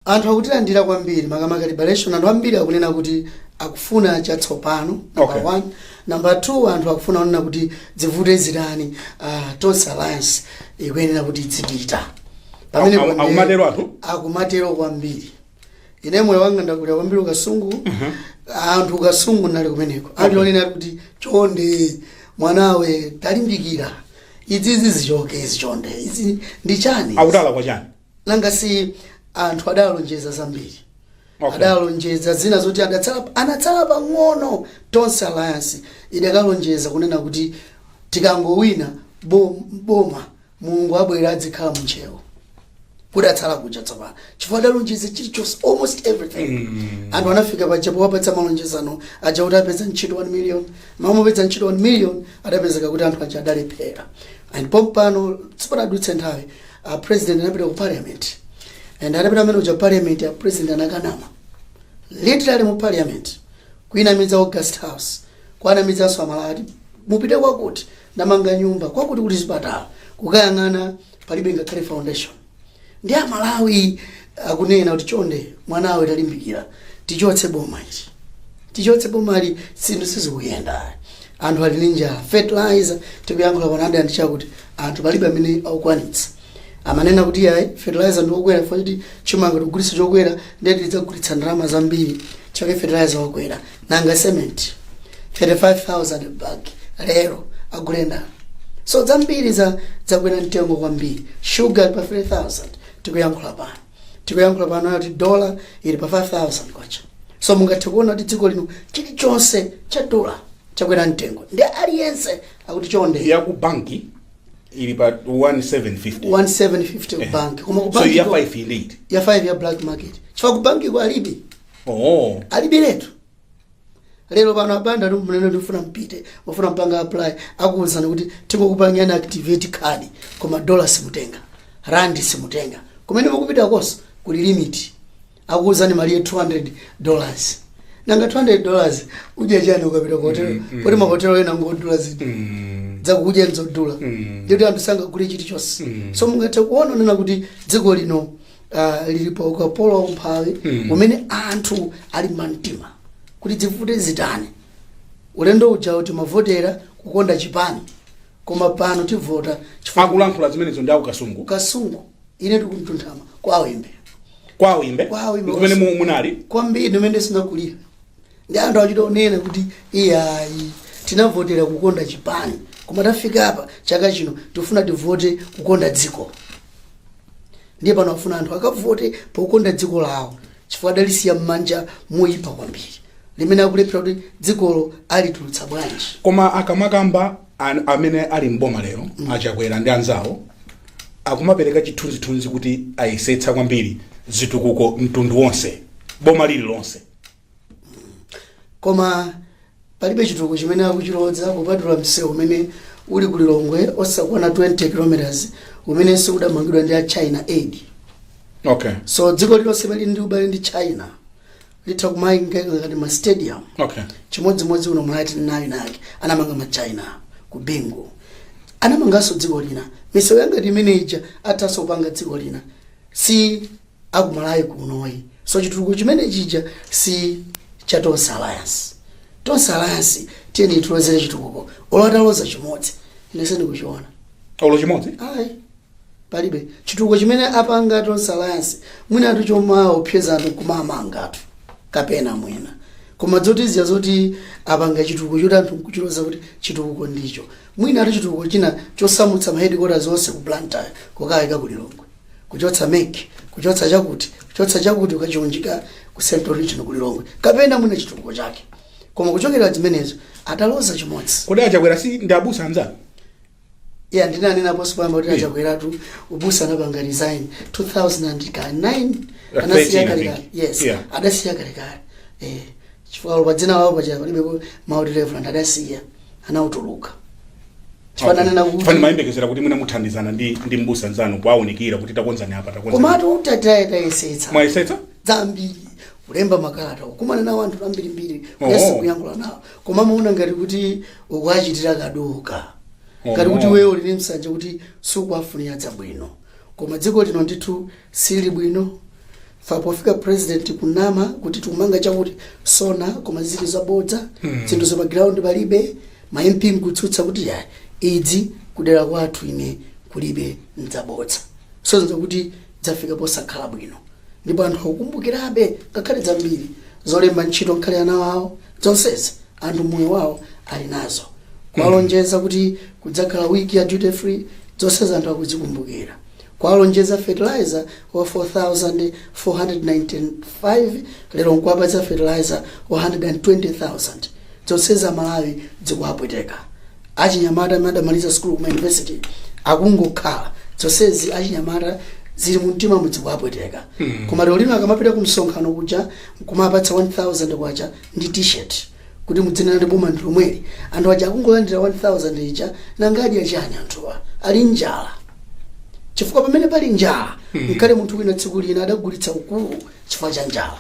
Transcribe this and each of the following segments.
Anthu akutilandira kwambiri makamaka liberation anthu ambiri akunena kuti akufuna chatsopano number Okay. one number two anthu akufuna kunena kuti zivute zitani ah, tonse alliance ikuyenera kuti idzipita Pamene Aku- aku- pamene- akumatero anthu? akumatero kwambiri ine moyo wanga ndakulira kwambiri ku Kasungu anthu a ku Kasungu nali kumeneko ali onena kuti chonde mwanawe talimbikira izizi zichoke izi chonde izi ndi chani akuti alakwa chani nanga si anthu adalonjeza zambiri Okay. adalonjeza zina zoti adatsala anatsala pang'ono tonse alliance idakalonjeza kunena kuti tikangowina bo- boma mulungu abwera adzikhala munchewo kudatsala kuja tsopano chifukwa adalonjeza chilichonse almost everything anthu anafika paja powapatsa malonjezano aja kuti apeza ntchito 1 million mama apeza ntchito 1 million adapezeka kuti anthu aja adalephera and pompano sipadadutse nthawi a president anapita ku parliament and atapita amene uja parliament a president anakanama literally mu parliament kuinamiza August house kuwanamizanso amalawi ati mupite kwakuti ndamanga nyumba kwakuti kuti zipatala kukayang'ana palibe ngakhale foundation ndi amalawi akunena kuti chonde mwanawe talimbikira tichotse boma ili tichotse boma ili zinthu sizikuyenda anthu ali ndi njala fertilizer tikuyankhula pano ndi chakuti anthu palibe amene akukwanitsa amanena kuti yayi fertilizer ndiokwera chifukwa choti chimanga tikugulitsa chokwera ndiye tidzagulitsa ndalama zambiri chake fertilizer wakwera nanga cement 35000 bag lero agule ndani so zambiri za zakwera mtengo kwambiri sugar pa 3000 tikuyankhula pano tikuyankhula pano kuti dola ili pa 5000 kwacha so mungathe kuona kuti dziko lino chilichonse cha dola chakwera mtengo ndi aliyense akuti chonde ya ku banki ili pa 1750 1750 ku banki koma ku banki ko- so ya 5 ili iti ya 5 ya black market chifukwa ku bankiko alibe oh alibiretu lero pano a Banda munene ndifuna mpite mufuna mupange apply akuwuzani kuti tingokupangani activate card koma dollar simutenga rand simutenga kumene mukupitakonso kuli limit akuwuzani malire 200 dollars nanga 200 dollars udya chani ukapita ku hotel poti mahotelo ena ngodula zedi dzakudya nzodula ndiye kuti anthu sangagule chilichonse so mungathe kuona kunena kuti dziko lino ah, lili pa ukapolo wa umphawi umene anthu ali mumtima kuti zivute zitani ulendo ujawo timavotera kukonda chipani koma pano tivota chifukwa akulankhula zimenezo ndi a ku Kasungu kasungu ine ndi ku Mtunthama kwa Wimbe kwa Wimbe Kwa Wimbe. kumene mu- munali kwambiri kumene ndinakulira ndi anthu achita onena kuti iyayi tinavotera kukonda chipani koma tafika apa chaka chino tifuna tivote kukonda dziko ndiye pano afuna anthu akavote pokonda dziko lawo chifukwa adalisiya m'manja moyipa kwambiri limene akulephera kuti dzikolo alitulutsa bwanji koma akamakamba an- amene ali mboma lero a Chakwera ndi anzawo akumapereka chithunzithunzi kuti ayesetsa kwambiri zitukuko mtundu wonse boma lililonse koma palibe chitukuko chimene akuchiloza kupatula msewu umene uli ku lilongwe osakwana 20 kilometers umene udamangidwa ndi a china aid okay so dziko lilonse limene lili ndi ubale ndi china litha kumayingeka ngati ma stadium okay chimodzimodzi uno muli ndi nawo anake anamanga ma china ku bingu anamanganso dziko lina misewu ya ngati imene ija athanso kupanga dziko lina si a ku Malawi kuno ayi so chitukuko chimene chija si cha tonse alliance tonse alliance tiyeni tilozere chitukuko olo ataloza chimodzi ine sindikuchiona olo chimodzi ayi palibe chitukuko chimene apanga tonse alliance mwinatu chomaopseza anthu kumamanga anthu kapena mwina koma zodziwira zoti apanga chitukuko choti anthu nkuchiloza kuti chitukuko ndi icho mwinatu chitukuko china chosamutsa ma headquarters zonse ku blantyre kukayika ku lilongwe kuchotsa mec kuchotsa chakuti kuchotsa chakuti kukachiunjika ku central region ku lilongwe kapena mwina chitukuko chake koma kuchotsera zimenezo ataloza chimodzi kodi a Chakwera si ndi abusa anzanu yeah ndinanena poyamba kuti a Chakweratu ubusa anapanga resign 2009 Like anasiya 13, I kalekale think. yes Yeah. adasiya kalekale eh chifukwa pa dzina lawo paja palibe mawu oti reverend adasiya anautuluka chifukwa ndinanena kuti ife timayembekezera kuti mwina muthandizana ndi ndi mbusa nzanu kuwaunikira kuti takonzani apa takonzani komatu tayesa tayesetsa mwayesetsa zambiri kulemba makalata kukumana nawo anthu ambirimbiri Oh. kuyesa kuyankhula nawo koma amaona ngati kuti ukuachitira kaduka Oh. ngati kuti iweyo uli ndi nsanje kuti sukuwafunira zabwino koma dziko lino ndithu Sili bwino chifukwa pofika president kunama kuti tikumanga chakuti so on koma zili zabodza zinthu za pa ground palibe ma MP nkutsutsa kuti iyayi izi kudera kwathu ine kulibe nzabodza so nzakuti zafika posakhala bwino ndipo anthu akukumbukirabe nkhani zambiri zolemba ntchito nkhani ana awo zonsezi anthu moyo wawo ali nazo kuwalonjeza kuti kudzakhala wiki ya duty free zonsezi anthu akuzikumbukira Kuwalonjeza fertilizer wa 4495 lero nkuwapatsa fertilizer wa 120,000 dzonsezi amalawi dzikuwapweteka. Achinyamata amene adamaliza sukulu kuma university akungokhala dzonsezi achinyamata zili mumtimamu dzikuwapweteka. Koma lero lino akamapita kumsonkhano kuja nkumapatsa 1000 kwacha ndi t-shirt. Kuti mudzinena kuti boma ndi lomweli, anthu aja akungolandira 1000 ija nanga adya chani anthuwa? Ali njala chifukwa pamene pali njala nkale munthu wina tsiku lina adagulitsa ukulu chifukwa cha njala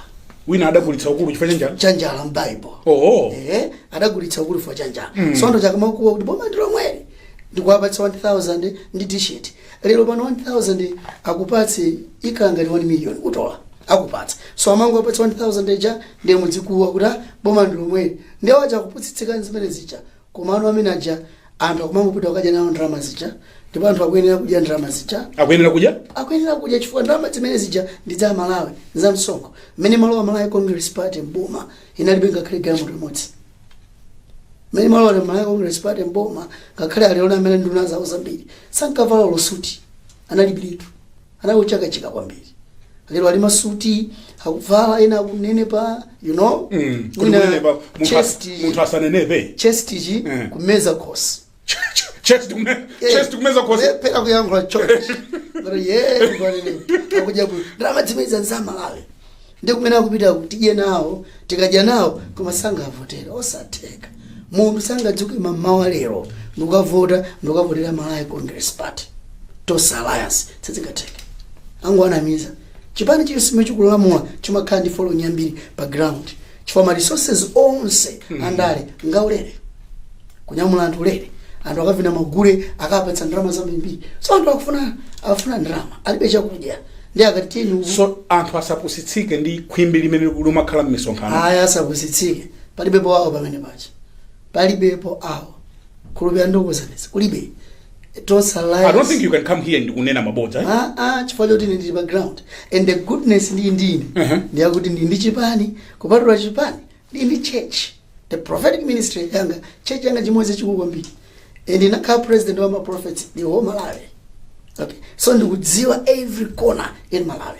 wina adagulitsa ukulu chifukwa chanjani cha njala m'Bible oo ehe adagulitsa ukulu chifukwa cha njala so anthu aja akamakuwa kuti boma ndi lomweli ndikuwapatsa 1000 ndi t-shirt lero pano 1000 akupatse ikhala ngati 1 million utola akupatsa so amangowapatsa 1000 ija ndiye mudzikuwa kuti "Ah, boma ndi lomweli ndiye aja akupusitsika ndi zimene zija koma anthu amene aja anthu akumangopita kukadya nawo ndalama zija ndipo anthu akuyenera kudya ndalama zija akuyenera kudya akuyenera kudya chifukwa ndalama zimene zija ndi za amalawi za msonkho mmene imalowa malawi congress party mboma inalibe ngakhale galimoto limodzi mmene imalowa malawi congress party mboma ngakhale ali ona amene nduna zawo zambiri sankavala olo suti analibilitu anali ochakachika kwambiri lero ali masuti akuvala ena akunenepa you know Mm, kuti Mwina munenepa, munthu as- chest- munthu asanenepe chest iyi Mm. kumeza khosi chest kume chest kumeza khosi mpaka kuyankhula church ngati ye ngwanene akuja ku ndalama zimenezo za amalawi ndi kumene akupita tidye nawo tikadya nawo koma sangavotera osatheka munthu sangadzuke mamawa lero ndikukavota ndikukavotera malawi congress party tonse alliance sizingatheke angowanamiza chipani chilichonse chikulamula chimakhala ndi following yambiri pa ground chifukwa ma resources onse andale ngawulere kunyamula anthu ulere anthu akavina magule akapatsa ndalama zambirimbiri so anthu akufuna akufuna ndalama alibe chakudya ndiye akati tiyeni uku- so anthu asapusitsike ndi khwimbi limene limakhala m'misonkhano aya asapusitsike palibepo awa pamene paja palibepo awo kulibe ndikuuzeni kulibe tonse alliance i don't think you can come here ndikunena mabodza eh? Ah, ah, chifukwa choti ndili pa ground and the goodness ndi ine Mhm. ndi yakuti ndili ndi chipani kupatula chipani ndili ndi church the prophetic ministry yanga church yanga chimene chikukula kwambiri and ndinakhala president wa maprophets the whole malawi okay so ndikudziwa every corner in malawi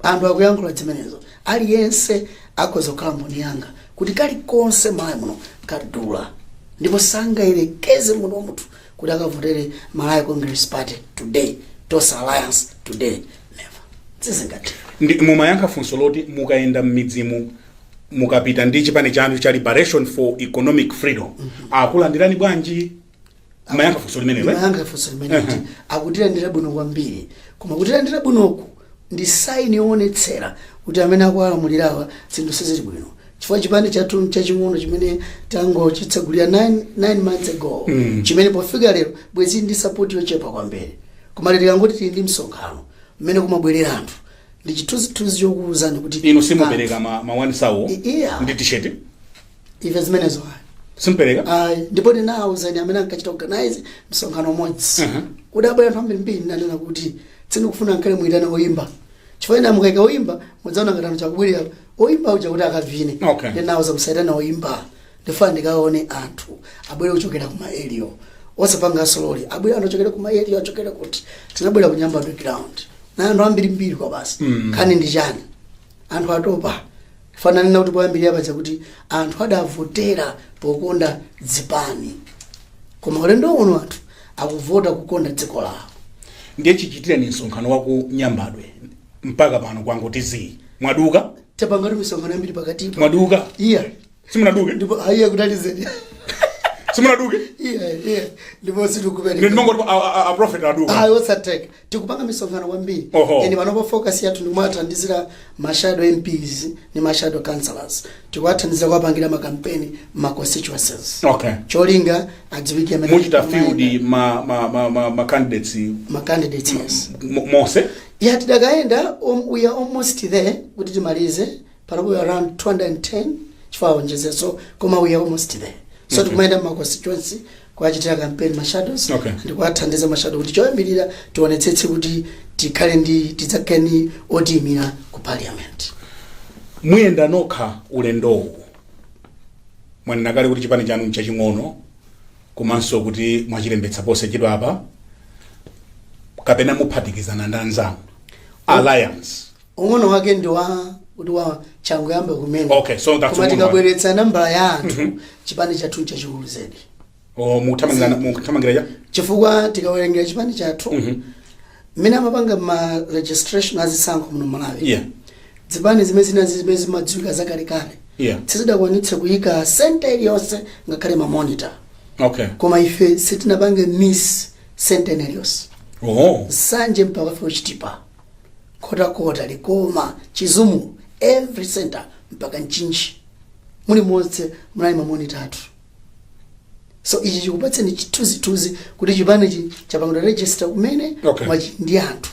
anthu akuyankhula zimenezo Aliyense akhoza kukhala mboni yanga kuti kalikonse Malawi muno kadula ndipo sangayerekeze munthu wa munthu kuti akavotere Malawi Congress Party today Tonse Alliance today never sizingatero ndiye mumayankha funso loti mukayenda m'midzimu mukapita ndi chipani chanu cha liberation for economic freedom akukulandirani bwanji mmayankha funso limenelo eh? mmayankha funso limenelo akutilandira bwino kwambiri koma kutilandira bwinoku ndi saini yoonetsera kuti amene akulamulirawa zinthu sizili bwino chifukwa chipani chathu chaching'ono chimene tangochitsegulira 9 months ago chimene pofika lero bwezi ndi sapoti yochepa kwambiri koma lero tikangoti tili ndi msonkhano mmene kumabwerera anthu ndi chithunzithunzi chokuwuzani kuti inu simupereka ma, ma one thousand iya. ndi t-shirt ife zimenezo ayi simpereka ayi ndipo ndinawauza ine amene ankachita organize msonkhano umodzi Mhm. kudabwera anthu ambirimbiri ndinanena kuti sindikufuna nkomwe muyitane oyimba chifukwa ine mukaika oyimba ndidzaona ngati anthu akubwerera oyimba uja kuti akavine Okay. ndinawauza musayitane oyimba ndifuna ndikaone anthu abwere kuchokera ku ma area osapanga za ma lorry abwere anthu ochokera ku ma area achokera kuti kunabwera ku Nyambadwe ground anthu ambirimbiri kwabasi Mm. nkhani ndi chani anthu atopa Paja ndanena kuti poyambirira paja kuti anthu adavotera pokonda zipani koma ulendo uno anthu akuvota kukonda dziko lawo ndiye chichitireni msonkhano wa ku Nyambadwe mpaka pano kwangoti zii mwaduka tapangatu misonkhano yambiri pakatipo mwaduka iyayi sitinaduke ndipo aiya kutalizeni simunaduke iyayi iyayi ndipo sitikupeni ndimangoti a prophet aduka ayi sizotheka Tikupanga misonkhano kwambiri Oho. and panopa focus yathu ndikumathandizira ma shadow MPs ndi ma shadow councillors tikuwathandizira kuwapangira ma campaign mma constituencies okay cholinga adziwike amene muchita akumayenda. field ma, ma, ma, ma, ma candidates ma candidates yes mo- monse yeah tidakayendabe um, we are almost there kuti timalize panopa around 210 chifukwa awonjezeso koma we are almost there so okay. tikumayenda mma constituency kuwachitira campaign ma shadows Okay. ndi kuwathandiza ma shadow kuti choyambirira tionetsetse kuti tikhale ndi tidzakhale ndi otiyimira ku parliament muyenda nokha ulendowu mwanena kale kuti chipani chanu nchaching'ono komanso kuti mwachilembetsa posachedwa apa kapena muphatikizana ndi anzanu alliance ung'ono wake ndi wakuti changoyamba kumene Okay, so that's koma ung'ono tikabweretsa nambala ya anthu chipani chathu nchachikulu zedi o mukuthamangira mukuthamangira ya chifukwa tikawerengera chipani chathu mmene amapanga ma registration azisankho muno Malawi yeah zipani zimene zina zimene zimadziwika zakalekale Yeah. sizidakwanitse kuyika senta iliyonse ngakhale mamonita okay koma ife sitinapange miss center iliyonse Nsanje mpaka ku Chitipa nkhotakota likoma chizumulu every center mpaka mchinji muli monse munali mamonitor athu so ichi chikupatseni chithunzithunzi kuti chipanichi chapangidwa register kumene Okay. koma chi- ndi anthu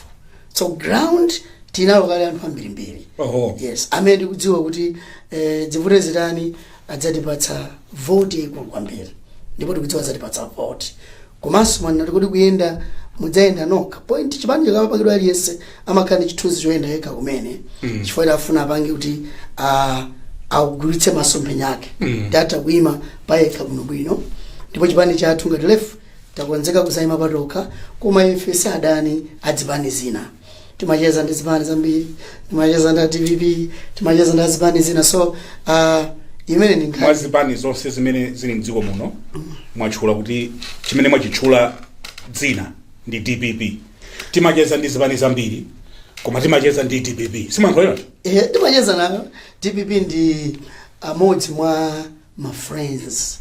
so ground tinalo kale anthu ambirimbiri Oho. yes amene ndikudziwa kuti eh, zivute zitani adzatipatsa voti yaikulu kwambiri ndipo tikudziwa adzatipatsa voti Komanso mwanena kuti kodi kuyenda mudzayenda nokha point yake chipani chikamapangidwa aliyense amakhala ndi chithunzi choyenda yekha kumene chifukwa kuti afuna apange kuti ah, agwiritse masomphenya ake kuti atha kuima payekha bwinobwino ndipo chipani chathu ngati LEF takonzeka kudzayima patokha koma ife si adani a zipani zina timacheza ndi zipani zambiri timacheza ndi a dpp timacheza ndi azipani zina so uh, imene ndi mwa nkhani zipani zonse zimene zili mdziko muno mwatchula kuti chimene mwachitchula dzina ndi dpp timacheza ndi zipani zambiri koma timacheza ndi dpp sindikulakwa Eh, timacheza nayo dpp ndi amodzi mwa ma friends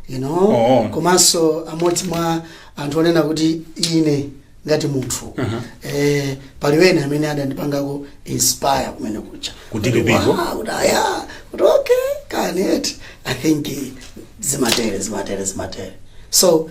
you know Oh. komanso amodzi mwa anthu onena kuti ine ngati munthu Aha. eh, pali wena amene adandipangako inspire kumene kuja Ku DPP ko? Wow, kuti aya kuti okay kani eti i think eh, zimatere zimatere zimatere so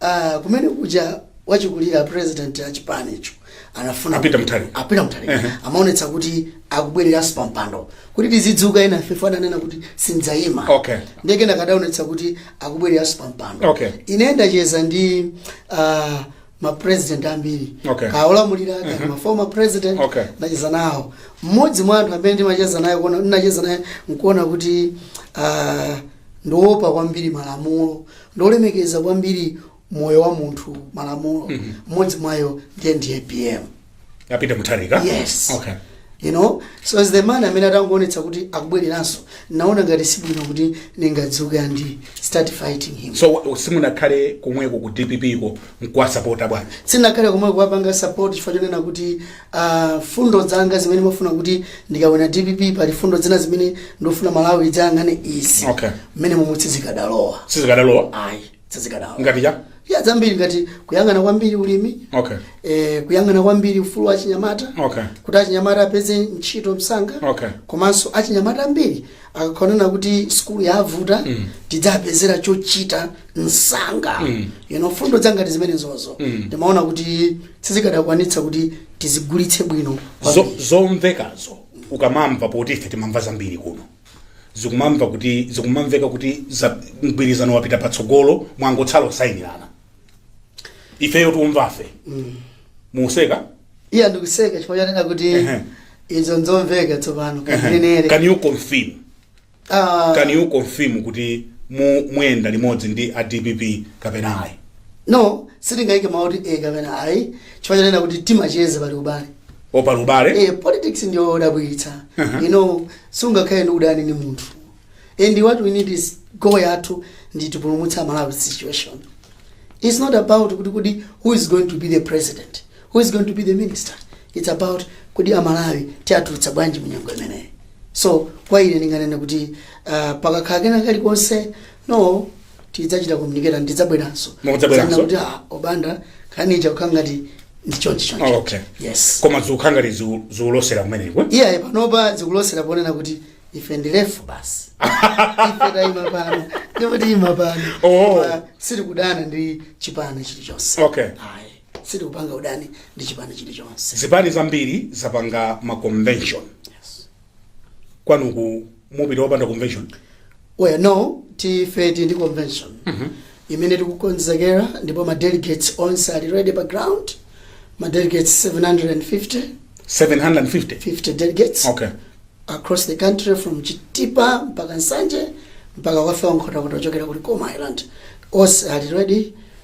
Ah, kumene kuja wachikulira a president a chipanicho anafuna Apita kuti- Mutharika. a Peter mutharika Ehe. amaonetsa kuti akubwereranso pa mpando kuti tizidzuka enafe ananena kuti sindzayima Okay. ndiye atangoonetsa kuti akubwereranso pa mpando Okay. ine ndacheza ndi uh, mapresident ambiri Okay. akaolamulira kapena maformer president Okay. ndacheza nawo mmodzi mwa anthu amene ndimacheza naye kuona- ndinacheza naye nkuona kuti uh, ndi woopa kwambiri malamulo ndi wolemekeza kwambiri moyo wa munthu malamulo mmodzi mwa iwo ndiye ndi apm a Peter mutharika Yes. okay you know so as the man amene atangoonetsa kuti akubwereranso naona ngati sibwino kuti ndingadzuke and start fighting him so wa- simunakhale komweko ku dpp ko nkuwasapota bwana sindinakhale komweko kuwapanga support chifukwa chonena kuti a mfundo zanga zimene ndimafuna kuti ndikawina dpp pali mfundo zina zimene ndikufuna malawi idzayang'ane izi Okay. mmene momwe sizikadalowa sizikadalowa ayi sizikadalowa ngati cha ya zambiri ngati kuyang'ana kwambiri ulimi okay eh, kuyang'ana kwambiri ufulu wa achinyamata Okay. kuti achinyamata apeze ntchito msanga Okay. komanso achinyamata ambiri akakhala onena kuti sukulu yavuta mm. tidzawapezera chochita msanga mm. you know mfundo zangati zimenezozo mm. ndimaona kuti sizikadakwanitsa kuti tizigulitse bwino kwambiri. zomvekazo ukamamva poti ife timamva zambiri kuno zikumamveka kuti mgwirizano wapita patsogolo mwangotsala kusayinirana ifeyo tikumva ife museka iya ndikuseka chifukwa chanena kuti Ehe. izo nzomveka tsopano Ehe. kanenere can you confirm Ah, can you confirm kuti mu- muyenda limodzi ndi a dpp kapena ayi no sitingayike mawu oti e kapena ayi chifukwa chanena kuti timacheza pali ubale pali ubale eh, politics ndiyo odabwitsa Aha. you know sungakhale ndi udani ndi munthu and what we need is goal yathu ndi tipulumutse malawi situation it's not about kuti who is going to be the president who is going to be the minister it's about kuti amalawi tiatulutsa bwanji munyengo imeneyi so kwa ine ndinganene kuti uh, pakakhala kena kalikonse no tidzachita communicate and tidzabweranso Mukudzabweranso? Zana kuti ah, a Banda nkhani ija ikukhala ngati ndi chonchi chonchi Oh, okay. yes koma zikukhala ngati ziku- zikulosera kumeneko iyaye panopa zikulosera ponena kuti ife ndilefu basi ife tayima pano ndipo tiyima pano Oh. Koma sitikudana ndi chipani chilichonse Okay. Ayi. Sitikupanga udani ndi chipani chilichonse. Zipani zambiri zapanga ma convention. Yes. Kwanuko mupita opanda convention? Well, no, ife tili ndi convention mm -hmm. imene tikukonzekera ndipo ma delegates onse ali ready pa ground ma delegates 750 750 delegates okay. across the country from Chitipa mpaka Nsanje mpaka kufika Nkhotakota kuchokera ku Likoma Island onse ali ready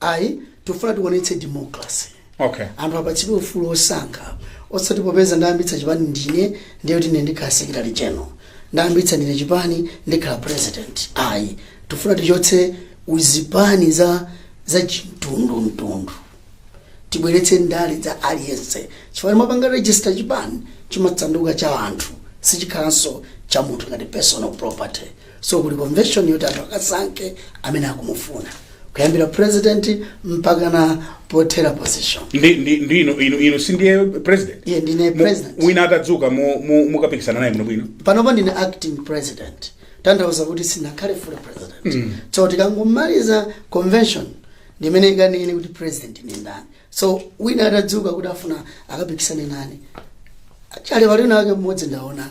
ayi tikufuna tionetse democracy Okay. anthu apatsidwe ufulu wosankha osati popeza ndayambitsa chipani ndine ndiye kuti ndine ndikhala secretary general ndayambitsa ndine chipani ndikhala president ayi tifuna tichotse uzipani za chimtundumtundu tibweretse ndale za aliyense chifukwa tikapanga register chipani chimatsanduka cha anthu sichikhalanso cha munthu ngati personal property So kuli convention yoti anthu akasankhe amene akumufuna kuyambira president mpakana pothera position. ndi ndi ndi inu inu inu si ndiye president Eya ndine Mu- president. wina atadzuka mu- mu- mukapikisana naye bwinobwino panopa ndine acting president tanthauza kuti sinakhale full president so tikangomaliza convention ndimene ikanene kuti president ndi ndani so wina atadzuka kuti afuna akapikisane nane kale pali wina wake mmodzi ndaona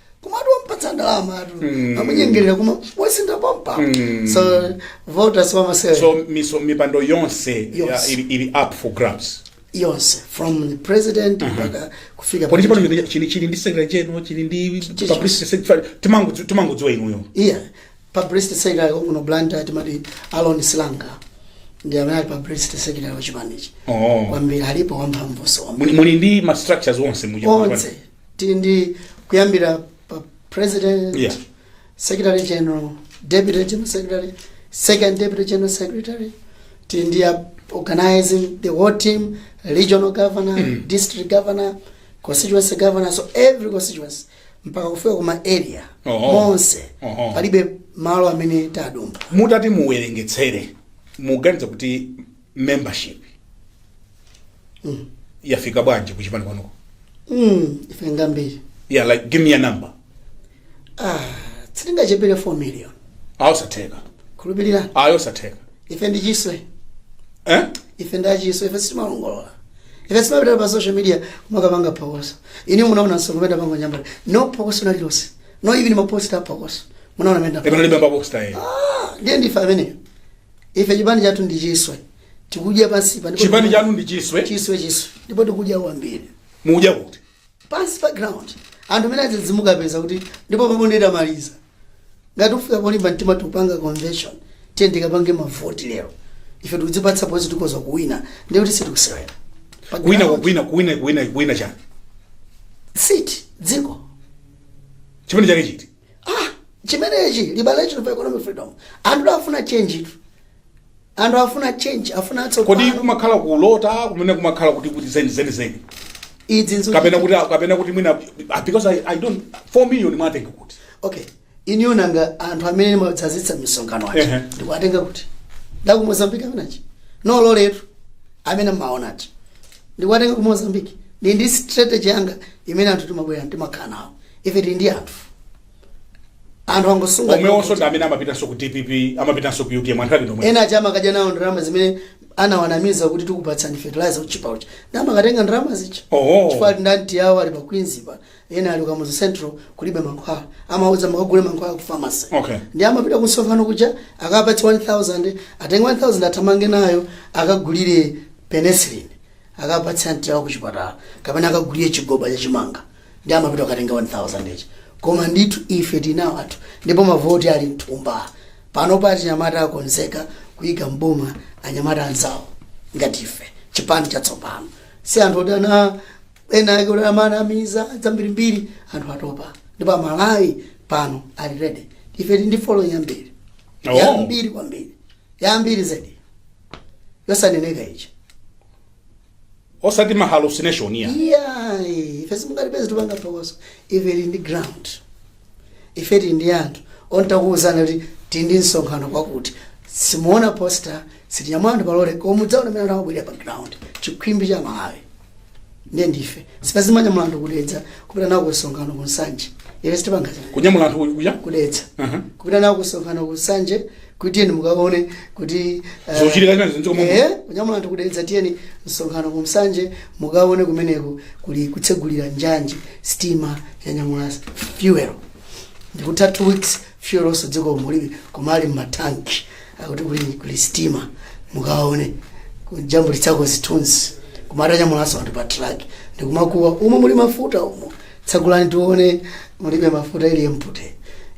kumati wampatsa ndalama atu mm. amunyengerera kumawasintha pompa mm. so voters wamasewera so miso, mipando yonse Yonse. ya- ili, ili up for grabs yonse from the president mpaka kufika kodi chipano chino chili chili ndi secretary general chili ndi Chichi. publicity secretary timangodzi- timangodziwa inuyo eya publicity secretary wakuno Blantyre timati Alon Silanga ndi amene ali publicity secretary wachipanichi oh. kwambiri alipo wamphamvunso muli muli ndi ma structures onse mu chipani onse tili ndi kuyambira pa president Yeah. secretary general deputy general secretary second deputy general secretary tili ndi a- organizing the whole team regional governor district governor constituency governor so every constituency mpaka kufika kuma area Oho. monse Oho. palibe malo amene tadumba mutati muwerengetsere muganiza kuti membership yafika bwanji kuchipani kwanuko Mm, ife njambiri yeah like give me a number ah, sitingachepere 4 million ayi zosatheka khulupirirani ayi zosatheka ife ndi chiswe eh? ife ndi achiswe ife sitimalongolola ife sitimapita pa social media kumakapanga phokoso inu munaona msonkhano wanga pango Nyambadwe no phokoso nalililonse no even maposta phokoso munaona mene panalibe maposta yeye ndiye ndife ameneyo ife chipani chathu ndi chiswe tikudya pansipa ndipo chipani chanu ndi chiswe chiswe chiswe ndipo tikudya kwambiri mukudya kuti pansi pa ground anthu amene azidzidzimuka kupeza kuti ndipo pomwe nditamaliza ngati ufika polimba mtima tikupanga convention tiyeni tikapange mavoti lero ife tikudzipatsa pozi tikhoza kuwina ndiye kuti sitikusewera Pa kuwina ground, kuwina kuwina kuwina kuwina chani seat dziko chipani chake chiti ah chimenechi liberation for economic freedom anthu afuna change-tu anthu afuna change afuna kodi atsopano kumakhala kulota kumene kumakhala kuti kuti zeni zeni zeni idzi nzo kapena kuti kapena kuti mwina ah, because I, i don't 4 million mwatenga kuti okay iniyo nanga anthu amene amadzadzitsa misonkhano aja Ehe. ndikuwatenga kuti ndi aku Mozambique amene aja ndi loletu amene mumaona aja ndikuwatenga ku Mozambique ndi ndi strategy yanga imene anthu timabwera timakhala nawo ife tili ndi anthu anthu akukusunga omwewonso ndi amene amapitanso ku dpp amapitanso ku utm anthu ake ndi omwe ena aja amakadya nawo ndalama zimene anawanamiza kuti tikupatsani fertilizer otchipa uja ndi amakatenga ndalama zija Oho. chifukwa ati anti yawo ali pa queens pa ena ali kamuzu central kulibe mankhwala amawauza makagule mankhwala ku pharmacy Okay. ndi amapita ku msonkhano kuja akawapatsa 1000 atenge 1000 athamange nayo akagulire penicillin akapatse anti yawo ku chipatala kapena akagulire chigoba cha chimanga ndi amapita kukatenga 1000 ija koma ndithu ife tinawo athu ndipo mavoti ali mthumba pano pa anyamata akonzeka kuyika m'boma anyamata anzawo ngati ife chipani chatsopano si anthu odana enaake odamanamiza zambirimbiri anthu atopa ndipo amalawi pano ali ready ife tili ndi following yambiri Oh. yambiri kwambiri yambiri zedi yosaneneka ichi osati ma hallucination ya iyayi ife simungalipeze tupanga phokoso ife tili ndi ground ife tili ndi anthu ongotakuwuzana kuti tili ndi msonkhano kwakuti simuona poster sitinyamula anthu palole koma mudzaona mene amabwerera pa ground chikhwimbi cha amalawi ndiye ndife sitipanga zomanyamula anthu kudedza kupita nawo ku msonkhano ku nsanje ife sitipanga zimene kunyamula anthu kuja kudedza kupita nawo ku msonkhano ku nsanje kuti tiyeni mukaone kuti eh, Zochitika zina zinziko momwe. eh, kunyamula anthu kudedza tiyeni msonkhano ku nsanje mukaone kumeneko kuli kutsegulira njanji sitima yanyamula fuel ndikutha two weeks fuel onse dziko mulibe koma ali mmatanki akuti kuli, kuli sitima mukaone kujambulitsako zithunzi koma atanyamulanso anthu pa truck ndikumakuwa umo muli mafuta umo tsegulani tione mulibe mafuta ili empty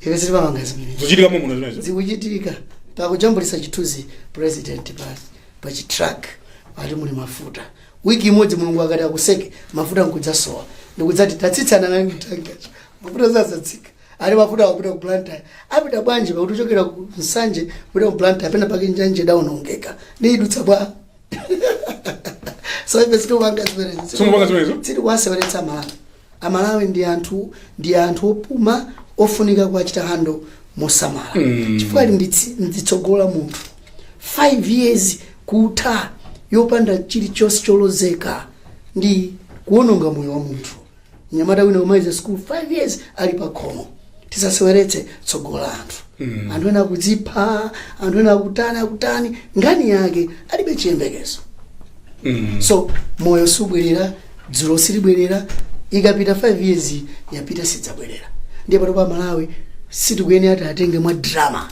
ife sitimapanga zimene Zikuchitika momwe zimenezo. zikuchitika pakujambulitsa chithunzi president pa pa chitruck ati muli mafuta wiki imodzi mulungu akati akuseke mafuta nkudzasowa ndikudzati tatsitsani nanga tankicho mafuta zazatsika ali mafuta akupita ku blantyre apita bwanji pakuti kuchokera ku nsanje kupita ku blantyre pena pake njanje idaonongeka ndiye idutsa bwa so ife sitikupanga zimenezo Sitikupanga zimenezo? sitikuwaseweretsa amalawi amalawi ndi anthu ndi anthu opuma ofunika kuwachita handle mosamala chifukwa ali ndi tsi- ndi tsogolo la munthu 5 years kutha yopanda chilichonse cholozeka ndi kuononga moyo wa munthu mnyamata wina kumaliza school 5 years ali pa khomo tisaseweretse tsogolo la anthu mm. anthu ena akudzipha anthu ena akutani akutani nkhani yake alibe chiyembekezo mm. so moyo subwerera dzulo silibwerera ikapita 5 years yapita sidzabwerera ndiye pano pa malawi sitikuyenera tiatenge mwa drama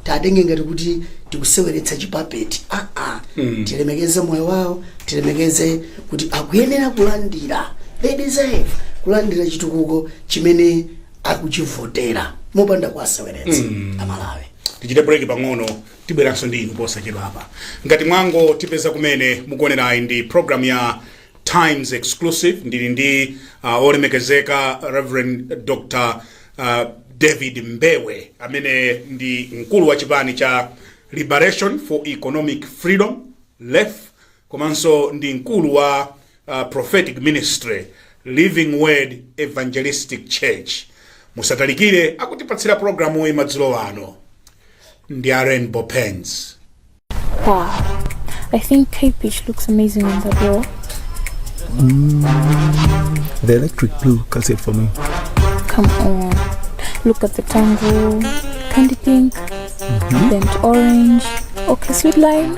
tiatenge ngati kuti tikuseweretsa chipapeti aa tilemekeze moyo wawo tilemekeze kuti akuyenera kulandira they deserve kulandira chitukuko chimene akuchivotera mopanda kuwaseweretsa amalawi tichite break pang'ono tibweranso ndi inu posachedwa apa ngati mwangotipeza kumene mukuonerayi ndi program ya times exclusive ndili ndi uh, olemekezeka reverend dr uh, david mbewe amene ndi mkulu wa chipani cha liberation for economic freedom lef komanso ndi mkulu wa Prophetic Ministry Living Word Evangelistic Church musatalikire akutipatsira programuyi madzulo ano ndi a Rainbow Pens wow. I think Kate Beach looks amazing on that wall mm, the electric blue cuts it for me come on look at the tango candy pink mm -hmm. burnt orange okay sweet lime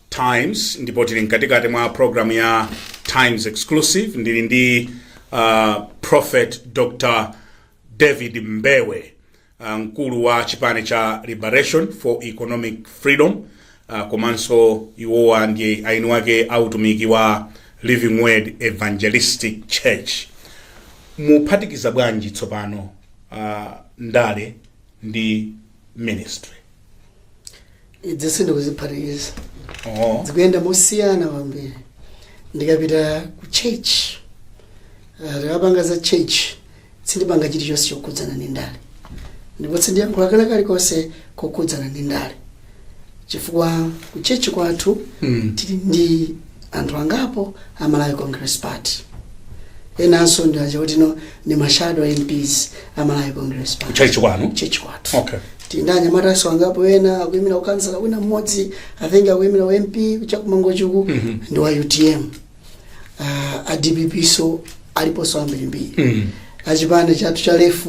Times ndipo tili mkatikati mwa programu ya Times Exclusive. Ndili ndi uh, Prophet Dr. David Mbewe uh, mkulu wa chipani cha Liberation for Economic Freedom uh, komanso iwowa ndi eni ake a utumiki wa Living Word Evangelistic Church. Muphatikiza bwanji tsopano uh, ndale ndi ministry? izi sindikuziphatikiza Oh. zikuyenda mosiyana kwambiri ndikapita ku church ah, tikapanga za church sindipanga chilichonse chokhudzana ndi ndale ndipo sindiyankhula kena kalikonse kokhudzana ndi ndale chifukwa ku church kwathu Mm. tili ndi anthu angapo a malawi congress party enanso ndi aja kuti no ndi ma shadow mps a malawi congress party Church kwanu? church kwathu Okay. tili ndi anyamatanso angapo ena akuyimira ukhansala wina mmodzi i think akuyimira u mp cha ku mangochi uku Mhm. ndi wa utm uh, a dpp so aliponso ambirimbiri Mm. achipani chathu cha lef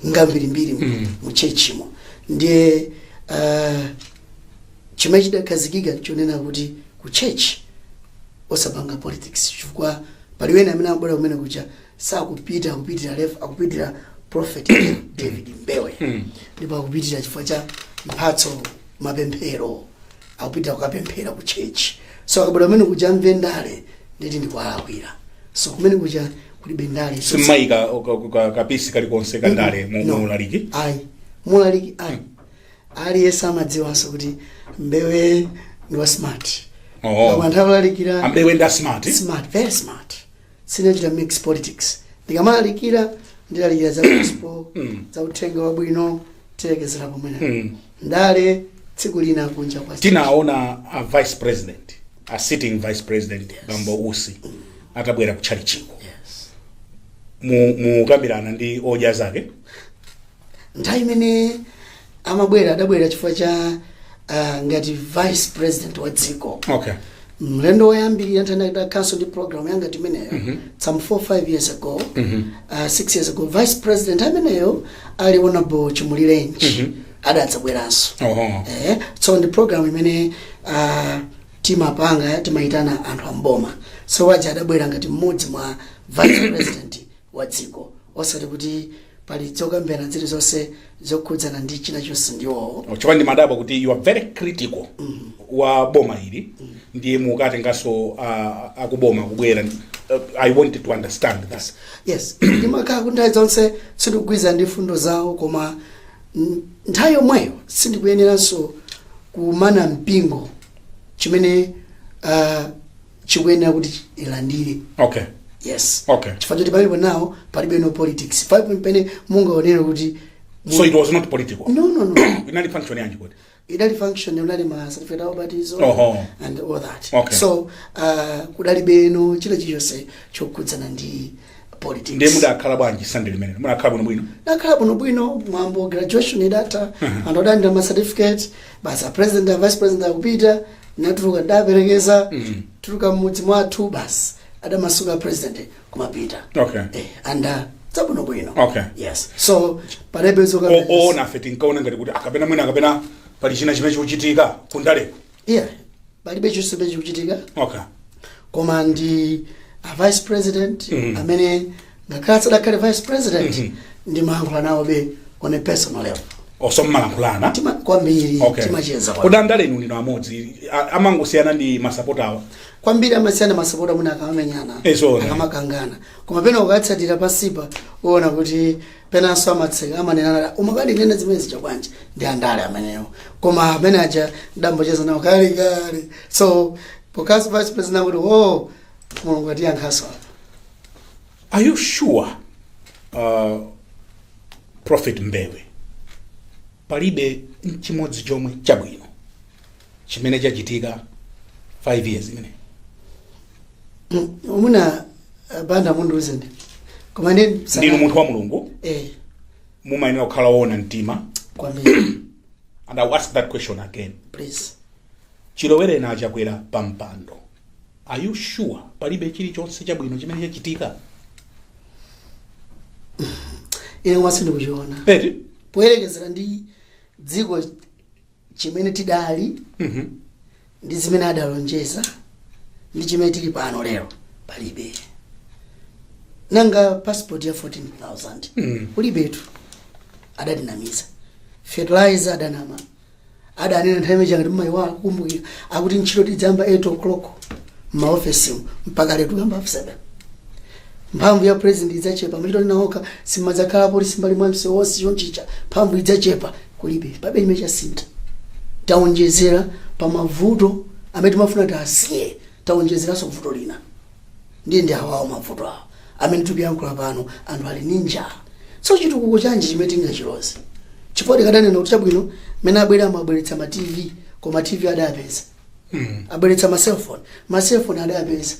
ngambirimbiri Mm. mu churchmo ndiye uh, Chimene chidakhazikika nchonena kuti ku church osapanga politics chifukwa pali wena amene amabwera kumene kuja sakupitira lef akupitira prophet david mbewe ndipo akupitira chifukwa cha mphatso mapemphero akupitira kukapemphera ku church so akabwera kumene kuja amve ndale ndiye kuti ndikuwalakwira so kumene kuja kulibe ndale simumayika ka piece kalikonse kandale mu No. mu ulaliki ayi mu ulaliki ayi Aliyense amadziwanso kuti Mbewe ndi wa smart. Oh. Koma nthawi yolalikira a Mbewe ndi a smart. smart, very smart. Sindichita mix politics. Ndikamalalikira ndilalikira za gospel, za uthenga wabwino, tilekezera pomwe. Ndale tsiku lina kunja kwa Tinaona a vice president, a sitting vice president Bambo Usi atabwera ku tchalitchiko. Yes. Mukukambirana ndi Odya Zake. nthawi imene amabwera adabwera chifukwa cha uh, ngati vice president wa dziko okay mlendo woyambirira tidakhalanso ndi program yangati imeneyo some 4 5 years ago uh, 6 years ago vice president ameneyo ali honorable chimulirenji adadzabweranso oho eh, so ndi program imene uh, timapanga timayitana anthu amboma so waja adabwera ngati mmodzi mwa vice president wa dziko. Osati kuti pali zokambirana zilizonse zokhudzana ndi china chonse ndi iwowo. chifukwa ndimadabwa kuti you are very critical wa boma ili ndiye mukatenganso ah, akuboma kubwera uh, i wanted to understand that Yes, ndimakhala kuti nthawi zonse sindikugwirizana ndi mfundo zawo koma mm, nthawi yomweyo sindikuyeneranso kumana mpingo chimene uh, chikuyenera kuti ilandire okay yes Okay. chifukwa choti palibe nawo palibe no politics palibe pamene mungaonere kuti so it was not political no no no inali function yanji kodi idali function munali ma certificate of baptism okay and all that Okay. so uh, kudalibe no chilichonse chokhudzana ndi politics ndiye mudakhala bwanji sande limenelo mudakhala bwino bwino ndakhala bwino bwino mwambo graduation idatha anthu adandira ma certificate basi a president a vice president akupita ndatuluka ndaperekeza tuluka mmudzi mwathu basi adamasuka a president kumapita okay eh, and zabwinobwino Okay. yes so palibe O- zoona ife tinkaona ngati kuti kapena mwina kapena pali china chimene chikuchitika kundaleko yeah palibe chonse chimene chikuchitika okay koma ndi a vice president Mhm. amene ngakhale sadakhale vice president Mhm. ndimayankhula nawobe on a personal level so mumalankhulana Tima- kwambiri okay timacheza kwambiri. kodi andale inu ndinu amodzi amangosiyana ndi masapota awo kwambiri amasiyana masapota mwina akamamenyana Eh, zoona. akamakangana koma pena ukatsatira pasipa uona kuti penanso amaseka amanena nati umakandinena zimene zija bwanji ndi andale amenewo koma amene aja ndambocheza nawo kale kale so because vice president akuti o mulungu atiyankhaso apa Are you sure uh, Prophet Mbewe palibe nchimodzi chomwe chabwino chimene chachitika 5 years imene abwana banda mundiuze ndi koma ndi ndinu munthu wa mulungu eh mumayenera kukhala woona mtima kwambiri and i'll ask that question again please chilowere na achakwera pa mpando are you sure palibe chilichonse chabwino chimene chachitika ine koma sindikuchiona Eti, poyerekezera ndi dziko chimene tidali ndi zimene adalonjeza ndi chimene tili pano lero palibe nanga passport ya 14000 ulibetu adatinamiza fertilizer adanama adanena nthawi imene ija ngati mmayiwala kukumbukira akuti ntchito tidzayamba 8 o'clock mmaofesimu mpaka lero tikuyamba 7 mphamvu ya president idzachepa mmachitolinawoka simudzakhala polisi m'mbali mwa msewu wonse chonchicha mphamvu idzachepa kulibe palibe chimene chasintha taonjezera pa mavuto amene timafuna tiasiye taonjezeranso vuto lina ndiye ndi awawo mavuto awo amene tikuyankhula pano anthu ali ndi njala so chitukuko chanji chimene tingachiloze chifukwa tikadanena kuti chabwino mmene abwere amabweretsa ma tv koma tv adayapeza abweretsa ma cellphone ma cellphone adawapeza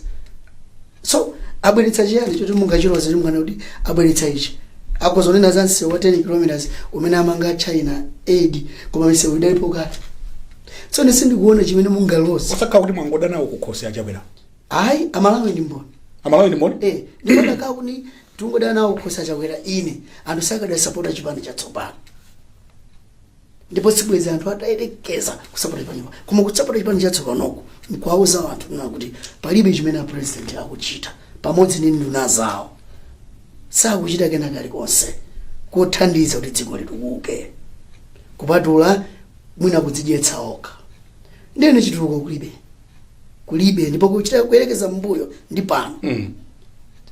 so abweretsa chiyani choti mungachiloze munganene kuti abweretsa ichi akuzanena za msewu wa 10 kilometers umene amanga china aid koma misewu idalipo kale so ine sindikuona chimene mungaloze osakhala kuti mwangoda nawo kukhosi achakwera ayi amalawi ndi mboni amalawi ndi mboni eh ndikuona kaa kuti tungoda nawo kukhosi achakwera ine anthu sakadasapota chipani chatsopano ndipo sibwezi anthu atayerekeza kusapota chipani china koma kusapota chipani chatsopanoko nkuwauza anthu kunena kuti palibe chimene apresident akuchita pamodzi ndi nduna zawo sakuchita kena kalikonse kothandiza kuti dziko litukuke kupatula mwina kudzidyetsa okha ndiyene chitukuko kulibe kulibe ndipo kuchita kuyerekeza mbuyo ndi pano Mm.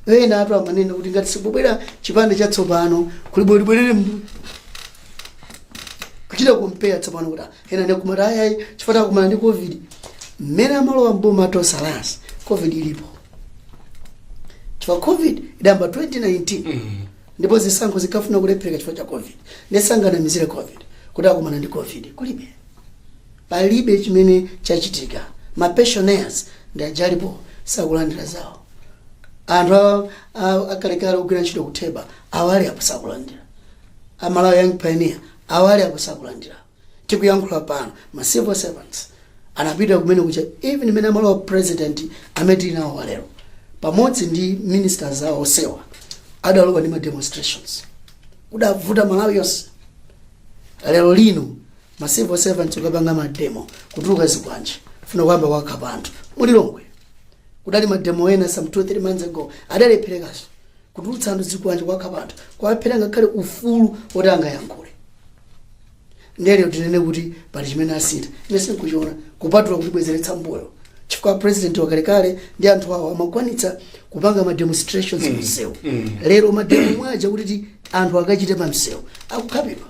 ena atu amanena kuti ngati sikubwera chipani chatsopano kuli bwino libwerere mbuyo kuchita kumpeya tsopano kuti ena ndikumati ayayi chifukwa akumana ndi covid mmene amalowa mboma tonse last covid ilipo chifukwa covid idayamba 2019 Mm. ndipo zisankho zinkafuna kulephereka chifukwa cha covid ndiye sanganamizire covid kuti akumana ndi covid kulibe palibe chimene chachitika ma pensioners ndi aja alipo sakulandira zawo anthu a- a- akalekale ogwira ntchito kutheba awo ali apo sakulandira a malawi young pioneer awo ali apo sakulandira tikuyankhula pano ma civil servants anapita kumene kucha even mmene amalowa president amene tili nawo walero pamodzi ndi ministers awo onsewa adalowa ndi ma demonstrations kudavuta malawi yonse lero lino ma civil servants ukapanga mademo kutuluka zikwanje funa kuyamba kukhapa anthu mulilongwe kudali mademo ena some 2 3 months ago adalepherekaso kutulutsa anthu zikwanje kuwakhapa anthu kuwaphera ngakhale ufulu woti angayankhule ndiye tinene kuti pali chimene asintha ine sinkuchiona kupatula kutibwezeretsa mbuyo chifukwa president wakalekale ndi anthu awo amakwanitsa kupanga ma demonstrations msewu lero mademo omwe aja kuti ti- anthu akachite pa msewu akukhapidwa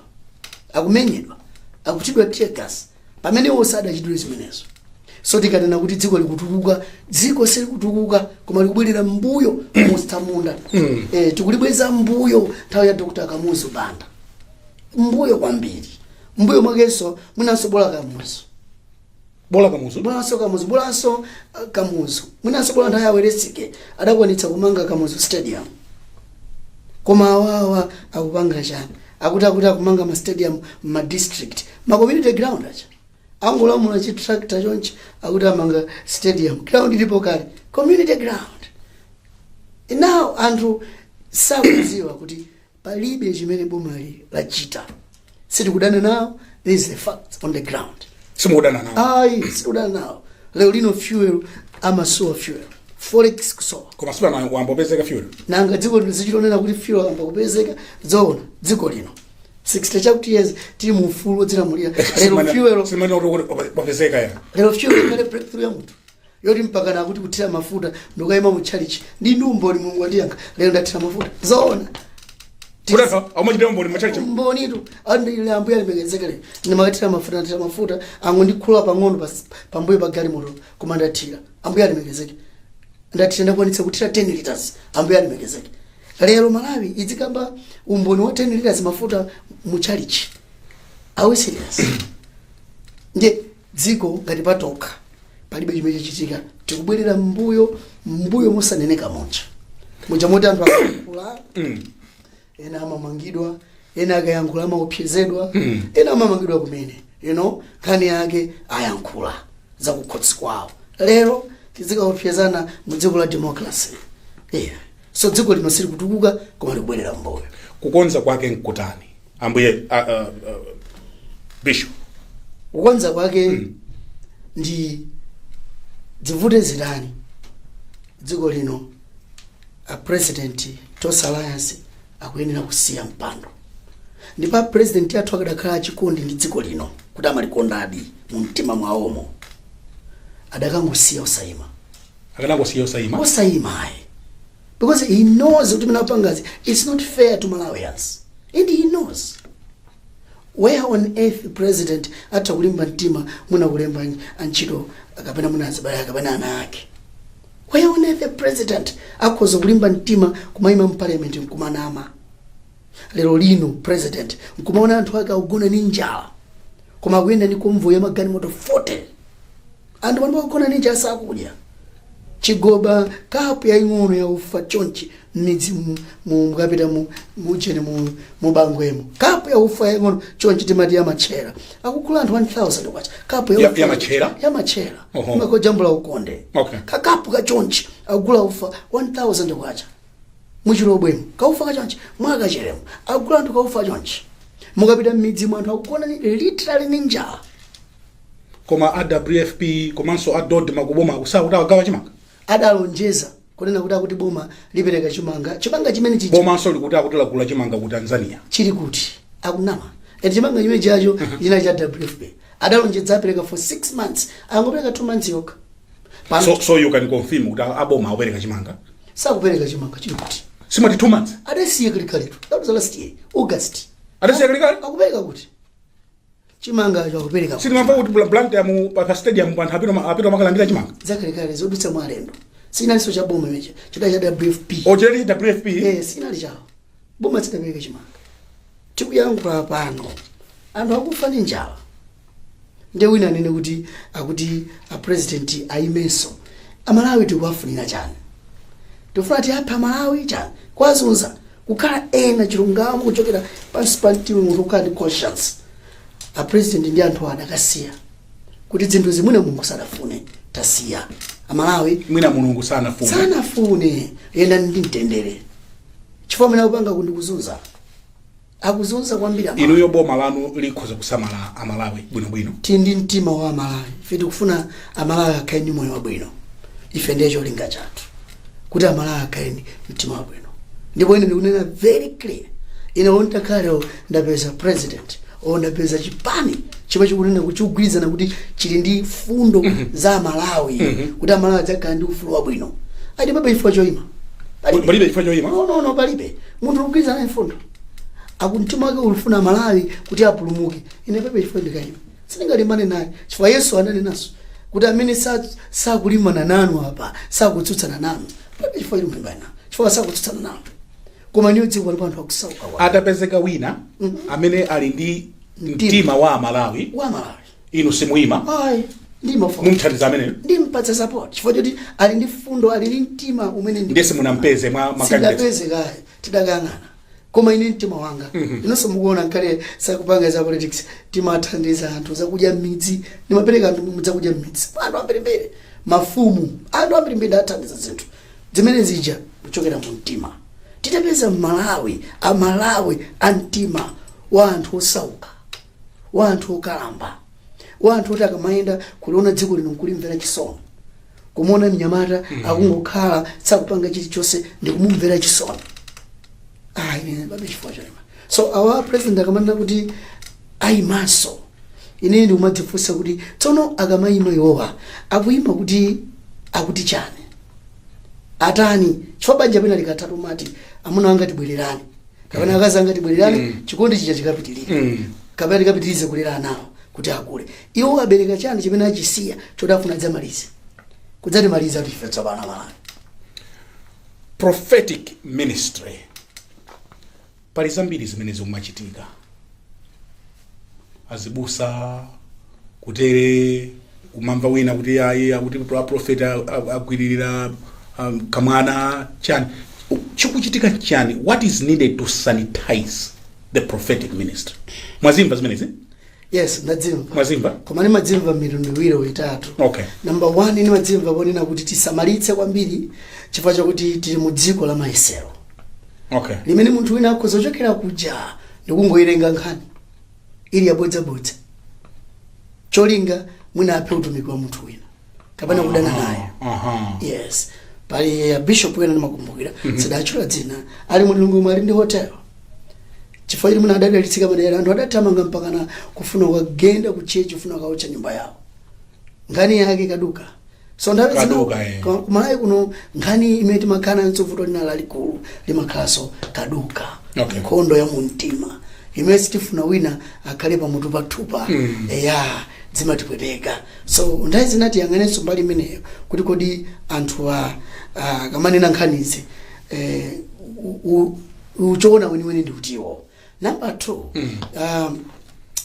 akumenyedwa akuchitidwa teargas pamene iwo sadachitidwe zimenezo so tikanena kuti dziko likutukuka dziko silikutukuka koma likubwerera mbuyo mutsamunda eh, tikulibweza mbuyo nthawi ya dr kamuzu banda mbuyo kwambiri mbuyo mwakenso mwinanso bola kamuzu bola kamuzu bolanso kamuzu bolanso uh, kamuzu mwinanso bola nthawi a welensky adakwanitsa kumanga kamuzu stadium koma awawa akupanga chani akuti akuti akumanga ma stadium ma district ma community ground zija angolamula chi tractor chonchi akuti amanga stadium ground ilipo kale community ground now anthu sakudziwa kuti palibe chimene bomali lachita sitikudana nawo this is the fact on the ground simukudana nawo ayi sitikudana nawo lero lino fuel amasowa fuel forex kusowa koma si pano wayamba kupezeka fuel nanga dziko lino lizichitonena kuti fuel ayamba kupezeka zoona dziko lino 60 chakuti years tili mu ufulu wodzilamulira lero fuel wapezeka ya lero fuel ikhale breakthrough ya munthu yoti mpakana kuti kuthira mafuta ndikukayima mu tchalichi ndi ndi umboni mulungu wandiyankha lero ndathira mafuta zoona Kudatha amachita umboni m'matchalichi. umbonitu andile ambuye alemekezeke lero ndimakathira mafuta ndathira mafuta angondikhula pang'ono pas- pambuyo pa galimoto koma ndathira ambuye alemekezeke ndathira ndakwanitsa kuthira 10 liters ambuye alemekezeke lero malawi idzikamba umboni wa 10 liters mafuta mu tchalichi are we serious ndiye dziko ngati patokha palibe chimene chachitika tikubwerera mbuyo mbuyo mosaneneka muja muja moti anthu akayankhula ena amamangidwa ena akayankhula amaopsezedwa ena amamangidwa kumene you know nkhani yake ayankhula zakukhosi kwawo lero tizikaopsezana mu dziko la democracy yeah. so dziko lino silikutukuka koma likubwerera mbuyo kukonza kwake nkutani ambuye a, a, a, bishop kukonza kwake ndi dzivute zitani dziko lino a president tonse alliance akuyenera kusiya mpando ndipo a president athu akadakhala achikondi ndi dziko lino kuti amalikondadi mu mtima mwawomo adakangosiya osayima akanangosiya osayima osayima ayi because he knows kuti zimene apangazi it's not fair to malawians and he knows where on earth president atha kulimba mtima mwina kulemba antchito kapena mwina azibale kapena ana ake where on earth a president akhoza kulimba mtima kumayima mparliament nkumanama lero lino president nkumaona anthu ake akugona ni njala koma akuyenda ni convoy ya magalimoto 40 Anthu pano akugona ni njala sakudya chigoba kapu yaing'ono ya ufa chonchi m'midzi mu- mu- mukapita mu- mujeni mu- mubangwemo kapu ya ufa yaing'ono chonchi timati yamatchera akugula anthu 1000 kwacha kapu Ya- ya ufa- yamatchera? yamatchera Oho. makojambula ukonde Okay. kakapu kachonchi akugula ufa 1000 kwacha muchilobwemo kaufa kachonchi mwa kacheremo akugula anthu kaufa chonchi mukapita m'midzimu anthu akugona ni- literally ni njala koma a wfp komanso a dodma ku bomaku akuti agawa chimanga adalonjeza kunena kuti akuti boma lipereka chimanga chimanga chimene chija bomanso likuti akuti lagula chimanga ku tanzania chili kuti akunama eti chimanga chimene chacho china cha wfp adalonjeza apereka for 6 months angopereka 2 months yokha pano so, so you can confirm kuti a- aboma akupereka chimanga sakupereka chimanga chili kuti simati two months adasiya kalekaletu that was last year august adasiya kalekale akupereka kuti chimanga akupereka sitimamva kuti bla- Blantyre mu pa pa stadium anthu apita ma- apita akalandira chimanga zakalekale zodutsa mwa alendo sinalinso cha boma chimenecho chidali cha wfp ocheri wfp Eh, sinali chawo boma silidapereka chimanga tikuyankhula pano anthu akufa ndi njala nde wina anene kuti akuti apresidenti ayimenso amalawi tikuwafunira chani tikufuna tiwaphe amalawi chani kuwazunza kukhala kunena chilungamo kuchokera pansi pa mtima munthu kukhala ndi conscience a president ndi anthu awo adakasiya kuti zinthuzi mwina mulungu sadafune tasiya amalawi mwina mulungu sanafuna sanafune yenda ndi mtendere chifukwa mene akupanga uku ndi kuzunza akuzunza kwambiri amalawi. inuyo boma lanu likhoza kusamala amalawi bwinobwino tili ndi mtima wa amalawi ife tikufuna amalawi akhale ndi moyo wabwino ife ndiye cholinga chathu kuti amalawi akhale ndi mtima wabwino ndipo ine ndikunena very clear ine nditakhala ndapeza president o ndapeza chipani chomwe chikunena kuti chikugwirizana kuti chili ndi fundo za amalawi kuti amalawi adzakhala ndi ufulu wabwino ah palibe chifukwa choima Palibe. Palibe chifukwa choima? no no no palibe munthu ukugwirizana ndi fundo akumtima wake akufuna amalawi kuti apulumuke ine palibe chifukwa ndikaima Sindingalimbane naye chifukwa Yesu ananenanso kuti amene sa- sakulimbana nanu apa sakutsutsana nanu palibe chifukwa cholimbana nawo chifukwa sakutsutsana nanu koma inuyo dziko lilipo anthu akusauka wa- atapezeka wina amene ali ndi mtima wa amalawi wa malawi inu simuyima ayi ndimafuna kumuthandiza ameneyo ndimpatsa support chifukwa choti ali ndi fundo ali ndi mtima umene ndi- nde simunampeze mwa makandidate sindinapeze kaye tidakayang'ana koma ine mtima wanga inunso mukuona ngakhale sitikupanga za politics timathandiza anthu zakudya mmidzi ndimapereka anthu zakudya mmidzi anthu ambirimbiri mafumu anthu ambirimbiri ndathandiza zinthu zimene zija kuchokera mu mtima titapeza mmalawi amalawi a mtima wa anthu osauka wa anthu okalamba wa anthu oti akamayenda kuliona dziko lino nkulimvera chisoni kumuona mnyamata akungokhala sakupanga chilichonse ndikumumvera chisoni ah ine palibe chifukwa choima so a president akamanena kuti ayimanso ine ndikumadzifunsa kuti tsono akamayima iwowa akuyima kuti akuti chani atani chifukwa banja pena likatha timati amuna anga tibwererane kapena akazi anga tibwererane chikondi chija chikapitirire kapena tikapitirize kulera anawo kuti akule iwo abereka chani chimene achisiya choti akufuna adzamalize kudzatimaliza tife tsopano malawi prophetic ministry pali zambiri zimene zikumachitika azibusa kutere kumamva wina kuti ayi akuti aprofeti agwiririra um, kamwana chani U- chikuchitika chani what is needed to sanitize the prophetic ministry mwazimva zimenezi yes ndadzimva mwazimva koma ndimadzimva mitundu iwiri itatu okay namba 1 ndimadzimva ponena kuti tisamalitse kwambiri chifukwa chakuti tili mu dziko la mayesero okay limene munthu wina akhoza kuchokera kuja ndikungoyilenga nkhani ili yabodzabodza cholinga mwina aphe utumiki wa munthu wina kapena kudana naye Aha. yes pali abishop wena ndimakumbukira sinditchula dzina ali mu Lilongwemu ali ndi hotel chifukwa choti mwina adadalitsika madera anthu adathamanga mpakana kufuna kukagenda ku chechi kufuna kaotcha nyumba yawo nkhani yake kaduka so nthawi zina Kaduka, eh. ka- kumalawi kuno nkhani imene timakhala nayo vuto lina lalikulu limakhalanso kaduka Okay. nkhondo ya mumtima imene sitifuna wina akhale pamutu pathupa eya zimatipweteka So nthawi zina tiyang'anenso mbali imeneyo kuti kodi anthuwa ah, akamanena nkhanizi eh, u- u- uchoona weniweni ndi uti number two um,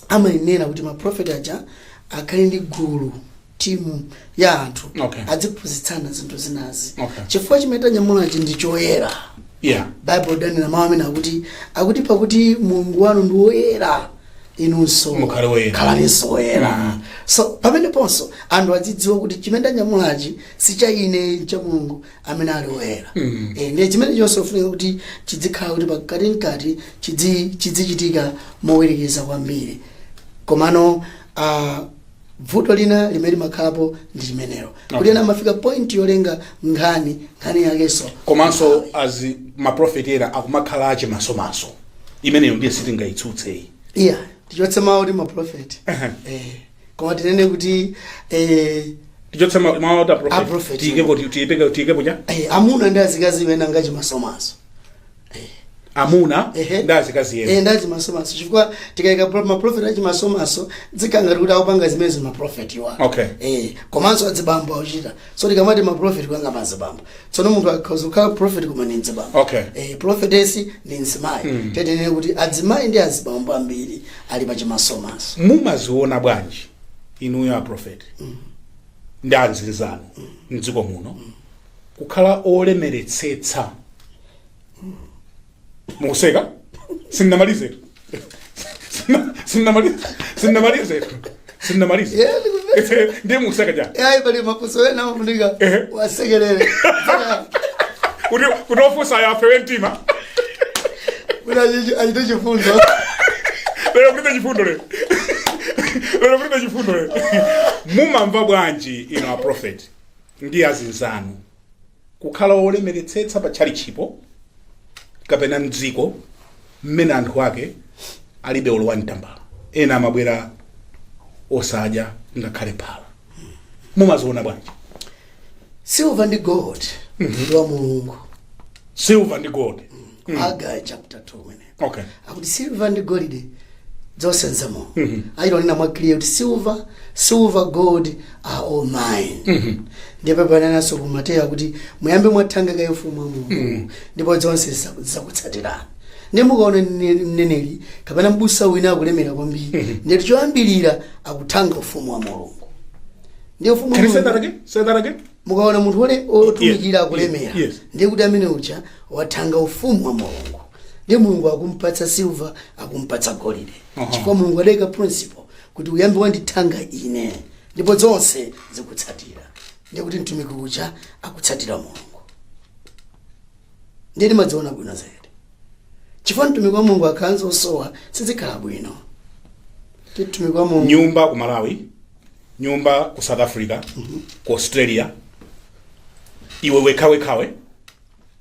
amayenera kuti maprofeti aja akhale ndi gulu timu ya anthu Okay. adziphunzitsana zinthu zinazi Okay. chifukwa chimene tanyamulachi ndi choyera yeah baibulo lidanena mawu amene akuti akuti pakuti mulungu wanu ndi woyera inunso Mukhale woyera. khalaninso woyera so pameneponso anthu adzidziwa kuti chimene tanyamulachi si cha ine ncha mulungu amene ali woyera Eh, ndiye chimenecho ndichofunika kuti chidzikhala kuti mkatimkati chidzi- chidzichitika mowerekeza kwambiri komano ah, bvuto lina limene limakhalapo ndi limenelo kuti ena amafika point yolenga nkhani nkhani yakenso komanso azi maprofeti ena akumakhala achimasomaso imeneyo ndiye sitingayitsutseyi iya tichotse mawu kuti maprofeti eh, koma tinene kuti eh, tichotse ma- mawu oti A apropheti. apropheti tiyikepo tiyipeke tiyikepo cha eh, amuna ndi azikazi ena ngachimasomaso amuna Ehe. ndi azikazi ena nga chimasomaso chifukwa tikayika pro- maprofeti achimasomaso zikhala ngati kuti akupanga zimenezi maprofetiwa Okay. eh, komanso adzibambo akuchita so tikamati maprofeti kuyanga mazibambo tsono munthu akhoza kukhala profeti koma ni mdzibambo Okay. eh, profetesi ni mzimayi mm. tinene kuti adzimayi ndi azibambo ambiri ali pachimasomaso mumaziona bwanji inuyo aprofeti ndi azinzanu mdziko muno kukhala olemeretsetsa mukuseka sindinamalize tu Sindina- sindinamalize sindinamalize tu sindinamalize Yeah, ndikuve- ndiye mukuseka ja yayi pali mafunso ena amafunika Ehe. wasekerere kuti kuti ofunsayo afewe mtima kuti achi- achite chifundo lero kulibe chifundo lero lero kulibe chifundo lero mumamva bwanji inu a prophet ndi azinzanu kukhala wolemeretsetsa pa tchalitchipo kapena mdziko mmene anthu ake alibe olowa mtambala ena amabwera osadya ngakhale phala mumaziona bwanji silver ndi gold ndi wa mulungu silver ndi gold aga chapter 2 mene okay akuti silva ndi golide zonse nza mulungu achita kunena mwa clear kuti silver silver gold are all mine ndipo penanso ku mateyo akuti muyambe mwathanga kaye ufumu wa mulungu ndipo zonse ziza- zizakutsatirani ndiye mukaona mne- mneneri kapena mbusa wina akulemera kwambiri ndeti choyambirira akuthanga ufumu wa mulungu ndiye ufumu wa can you say that again say that again mukaona munthu ole- otumikira akulemera yes. ndiye kuti amene uja wathanga ufumu wa mulungu ndiye mulungu akumpatsa silva akumpatsa golide chifukwa mulungu adaika principle kuti uyambe wandithanga ine ndipo zonse zikutsatira ndiye kuti mtumiki uja akutsatira mulungu ndiye timaziona bwino zedi chifukwa mtumiki wa mulungu akakhala osowa sizikhala bwino Ti mtumiki wa mulungu nyumba ku malawi nyumba ku south africa ku australia iwe wekhawekhawe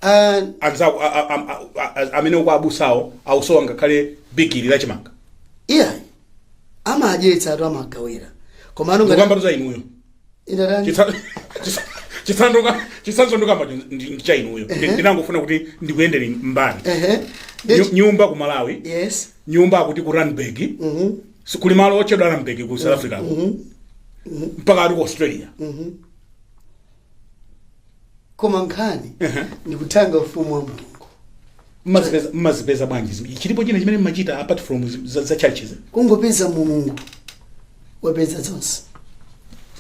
Ah, anzako a- a- a- a- a- amene uko abusawo akusowa ngakhale bigiri lachimanga iyayi amadyetsa anthu amagawira komano ngati ndikukambatu za inuyo inatani Chitsa- chitsa- chitsanzo chitsanzo ndikamba cha inuyo Ndi- Ehe. ndinangofuna kuti ndikuyendere mbali ehe Nyu- Ndeti- nyumba ku malawi yes nyumba akuti ku randburg mhm Si- kuli malo otchedwa randburg ku south africa ko. mpaka ati ku australia koma nkhani Ehe. ndikuthanga ufumu wa mulungu mmazipeza mmazipeza bwanji zim- chilipo china chimene mmachita apart from zi- za, za churches kungopeza mulungu wapeza zonse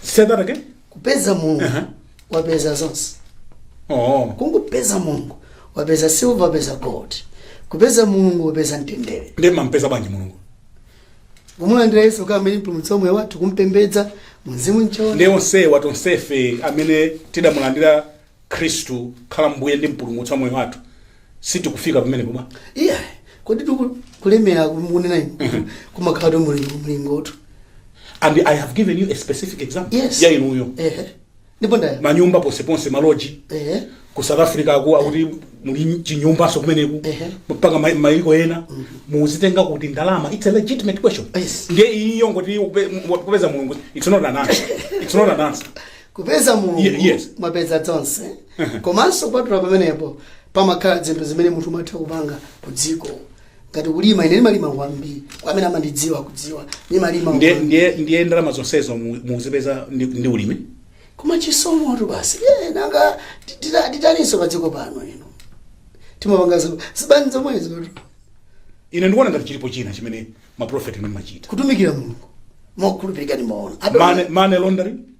say that again kupeza mulungu Aha. wapeza zonse oh kungopeza mulungu wapeza silver wapeza gold kupeza mulungu wapeza mtendere ndiye mmampeza bwanji mulungu kumulandira yesu kukhala mpulumutsi wa moyo wathu kumpembedza mumzimu m'choonadi onsewa tonsefe amene tidamulandira khristu khala mbuye ndi mpulumutsi wa moyo wathu sitikufika pamene pomwe iya kodi tiku- kulemera kunena inu kumakhalatu mulingo mulingotu and i have given you a specific example Yes. ya inuyo ehe ndipo manyumba ponseponse maloji ehe ku south africa aku akuti muli chinyumbaso kumeneko Ehe. mpaka ma- maiko ena mukuzitenga kuti ndalama its a legitimate question Yes. ndiye iyo ngoti kupe- mu- kupeza mulungu its not an answer its not an answer kupeza mulungu Ye- yes. mwapeza zonse komanso kupatula pamenepo pamakhala zinthu zimene munthu umatha kupanga ku dziko ngati kulima ine ndimalima kwambiri kwa amene amandidziwa akudziwa ndimalima ndiye kwambiri. ndiye ndiye ndalama zonsezo mu- mukuzipeza ndi, ndi ulimi koma chisomo tu basi Eh, nanga tita- titaninso pa dziko pano ino timapanga zo- zibani zomwezo tu. ine ndikuona ngati chilipo china chimene maprofeti inu mumachita kutumikira mulungu mokhulupirika ndimaona ape- money, money laundering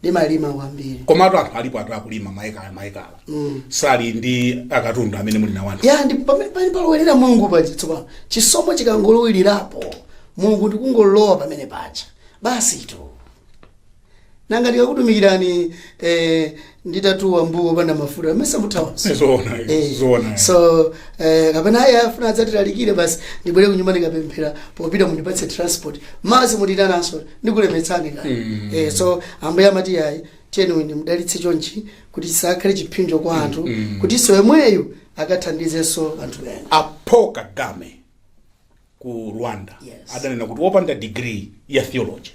ndimalima kwambiri komatu anthu alipo anthu akulima maekala maekala sali ndi akatundu amene muli nawo anthu ya ndi pamene pali palowelera mulungu paja tsopano chisomo chikangolowererapo mulungu ndikungolowa pamene paja basi tu nanga ndikakutumikirani eh, nditatuwa mbuwo opanda mafuta amene samuthawanso zoona Eh, zoona so eh, kapena ayi afuna adzatilalikire basi ndibwere kunyumba ndikapemphera popita mundipatse transport mwadzi simunditananso ndikulemetsani ka Mm. eh, so ambuye amati ayi tiyeni ndimudalitse chonchi kuti chisakhale chiphinjo kwa anthu mm. kutinso yemweyo akathandizenso anthu ena paul kagame ku rwanda Yes. adanena kuti wopanda degree ya theology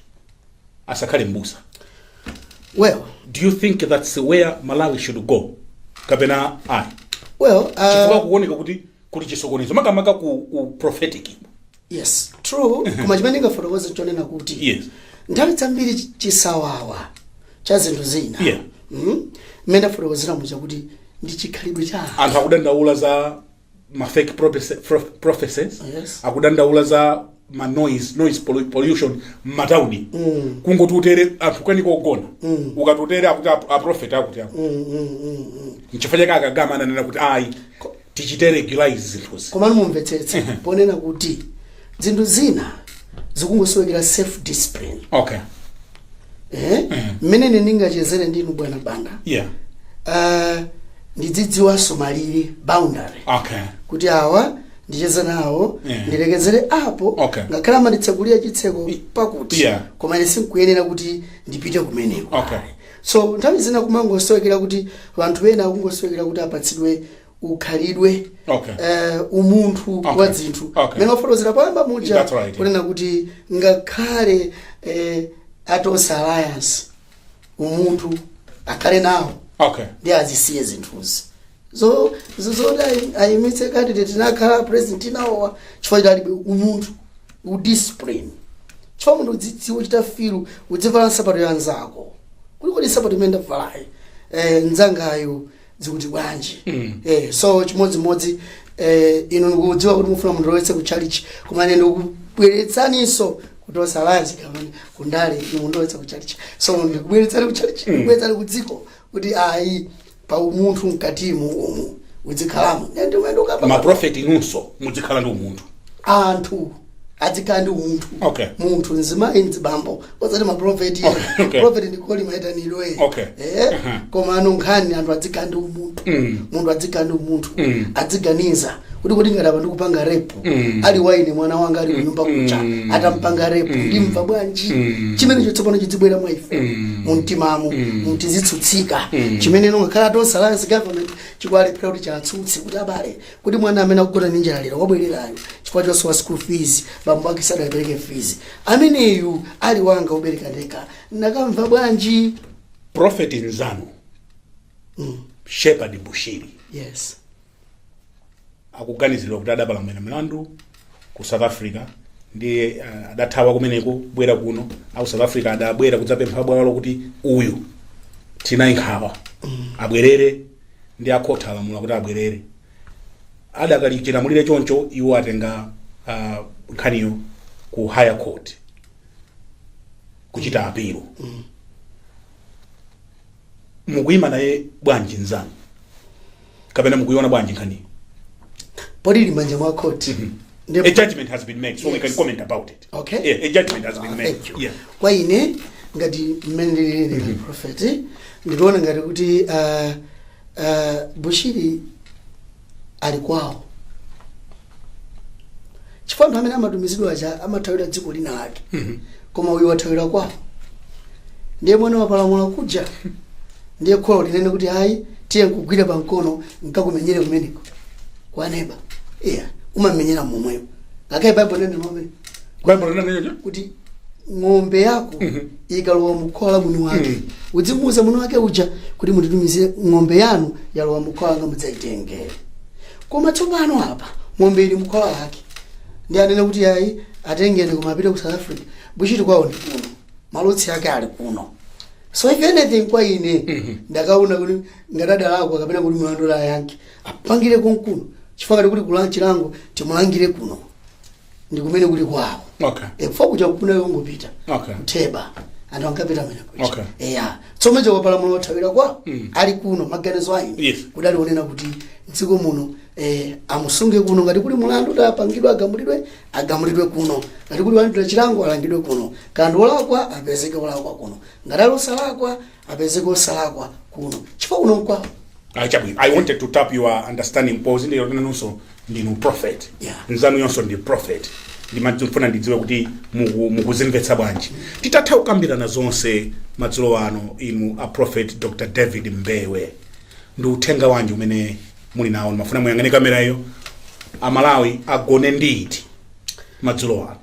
asakhale mbusa well do you think that's where malawi should go kapena ayi well chifukwa uh, kuoneka kuti kuli chisokonezo makamaka ku u prophetic yes true koma chimene ndingafotokoze chonena kuti Yes. nthawi zambiri chi- chisawawa cha zinthu zina Yeah. Mhm. mmene afotokozera muja kuti ndi chikhalidwe cha anthu. anthu akudandaula za ma fake prophecy- prof- prophecies Yes. akudandaula za ma noise noise pollu- pollution m'matauni mm. kungoti utere anthu kukanika kugona mm. ukati utere akuti ap- aprofeti akuti apo mm, mm, mm, mm. nchifukwa chake a kagame ananena kuti ayi tichite regularize zinthuzi komano mumvetsetse ponena kuti zinthu zina zikungosowekera self discipline okay eh mmene ine ndingachezere ndinu bwana banda yeah uh, ndidzidziwanso malire boundary okay kuti awa ndicheze nawo Yeah. ndilekezere apo Okay. ngakhale amanditsekulira chitseko pakuti Yeah. koma ine sinkuyenera kuti ndipite kumeneko Okay. So nthawi zina kumangosowekera kuti wanthu wena akungosowekera kuti apatsidwe ukhalidwe Okay. eh, umunthu Okay. wa dzinthu Okay. mene wafotokozera poyamba muja That's right. kunena kuti ngakhale eh, atonse alliance umunthu akhale nawo okay ndiye azisiye zinthuzi zo zo- zoti ayi- ayimitse kandidate anakhala a president anawowa chifukwa chake alibe umunthu u discipline chifukwa munthu udzidziwa kuchita feel udzivala nsapato ya nzako kuti kodi nsapato imene ndavalayi nzangayo zikuti bwanji so chimodzimodzi inu ndikudziwa kuti mufuna mundilowetse ku tchalitchi koma ine ndikubweretsaninso kuti osaiwala zikamakhala kundale inu mundilowetsa ku tchalitchi so ndikubweretsani ku tchalitchi ndikubweretsani ku dziko kuti ayi pa umunthu mkatimu umu udzikhalamo Nde ndimene ndikukamba ma prophet inunso mudzikhala ndi umunthu anthu adzikhala ndi umunthu Okay. munthu mzimayi mzibambo osati maprofeti Okay, okay. profeti ndi calling maitanidwe Okay. eh? komano nkhani anthu adzikhala ndi umunthu munthu adzikhala ndi umunthu adziganiza kuti kodi ngati apa ndikupanga rape ali wa ine mwana wanga ali kunyumba kucha atampanga rape ndimva bwanji chimenecho tsopano chidzibwera mwa ife mumtimamo muti tizitsutsika chimene ngakhale tonse alliance government chikulephera kuti chitsutsike kuti abale kodi mwana amene akugona ndi njala lero wabwerera uyo chifukwa chosowa school fees bambo ake sadapereke fees ameneyu ali wanga wobereka ndekha ndikanamva bwanji profeti nzanu shepherd bushiri yes akuganiziridwa kuti adapalamula mlandu ku south africa ndiye uh, adathawa kumeneko kubwera kuno aku south africa adabwera kudzapempha bwalo kuti uyu tinaye nkhawa abwerere ndi akhoti alamula kuti abwerere adakali chilamulire choncho iwo atenga uh, nkhaniyo ku higher court kuchita appeal mukuyima naye bwanji nzanu kapena mukuiona bwanji nkhaniyo poti ili manja mwa khoti Ndipo- a judgment has been made so we can Yes. comment about it Okay. yeah, a judgment has been Ah, made thank you. yeah. kwa ine ngati mmene ndilili prophet ndikuona ngati kuti ah, ah, bushiri ali kwawo chifukwa anthu amene amatumizidwa aja amathawira dziko lina lake koma uyu wathawira kwawo ndiye mwana wapalamula kuja ndiye kholo linene kuti ayi tiye nkugwira pa mkono nkakumenyere kumeneko kwa neba iya umamenyera momweyo ngakhale baibulo linena momwe baibulo linanenacho kuti ng'ombe yako ikalowa mukhola la mwini wake Mhm. udzimuuza mwini wake uja kuti munditumizira ng'ombe yanu yalowa mukhola langa mudzayitengere koma tsopano apa ng'ombe ili mkhola lake ndi anene kuti ayi atengeni akapite ku south africa bushiri kwawo ndi kuno ma roots ake ali kuno so if anything kwa ine ndikanaona kuti ngati adalakwa kapena kuti mlandu akayankhe apangire konkuno chifukwa ngati kuli kulanga chilango timulangire kuno ndi kumene kuli kwawo Okay. Eh, kuja kunali kungopita Okay. kutheba anthu ankapita kumene kuja Okay. eya so m'malo mokapalamula othawira kwawo ali kuno maganizo ayi Yes. kudali konena kuti dziko muno eh, amusunge kuno ngati kuli mulandu kuti apangidwe agamulidwe agamulidwe kuno ngati kuli kulandira chilango alangidwe kuno ngati ndi wolakwa apezeke wolakwa kuno ngati ali osalakwa apezeke osalakwa kuno chifukwa kuno nkwawo Ah, chabwino i wanted to tap your understanding poti ndinu nanunso ndinu prophet Yeah. nzanuyonso ndi prophet ndimafuna ndidziwe kuti muku- mukuzimvetsa bwanji titatha kukambirana zonse madzulo ano inu a prophet dr david mbewe ndi uthenga wanji umene muli nawo ndimafuna muyang'ane kamera iyo amalawi agone ndi uti madzulo ano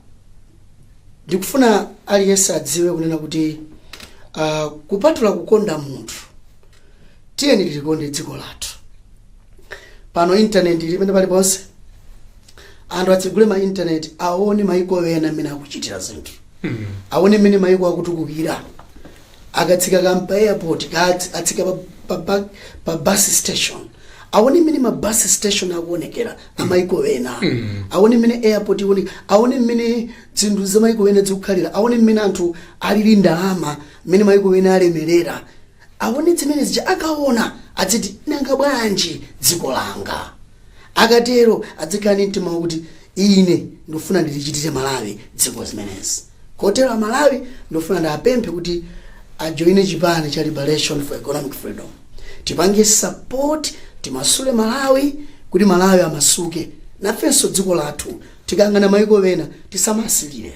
ndikufuna aliyense adziwe kunena kuti uh, kupatula kukonda munthu tiyeni tilikonde dziko lathu pano intaneti ili mmene paliponse anthu atsegule ma intaneti aone maiko ena mmene akuchitira zinthu aone mmene maiko akutukukira akatsika kaya mpa airport kaya atsika pa, pa, pa, pa bus station aone mmene ma bus station akuonekera amaiko ena aone mmene airport aone mmene zinthu za maiko ena zikukhalira aone mmene anthu alili ndalama mmene maiko ena alemerera aone zimene zija akaona adziti nanga bwanji dziko langa Akatero adzikhala ndi mtima wakuti ine ndikufuna ndilichitire Malawi dziko zimenezi. Kotero a Malawi ndikufuna ndiapemphe kuti ajoine chipani cha Liberation for Economic Freedom. Tipange support timasule Malawi kuti Malawi amasuke. Nafenso dziko lathu tikayang'ana maiko ena tisamasirire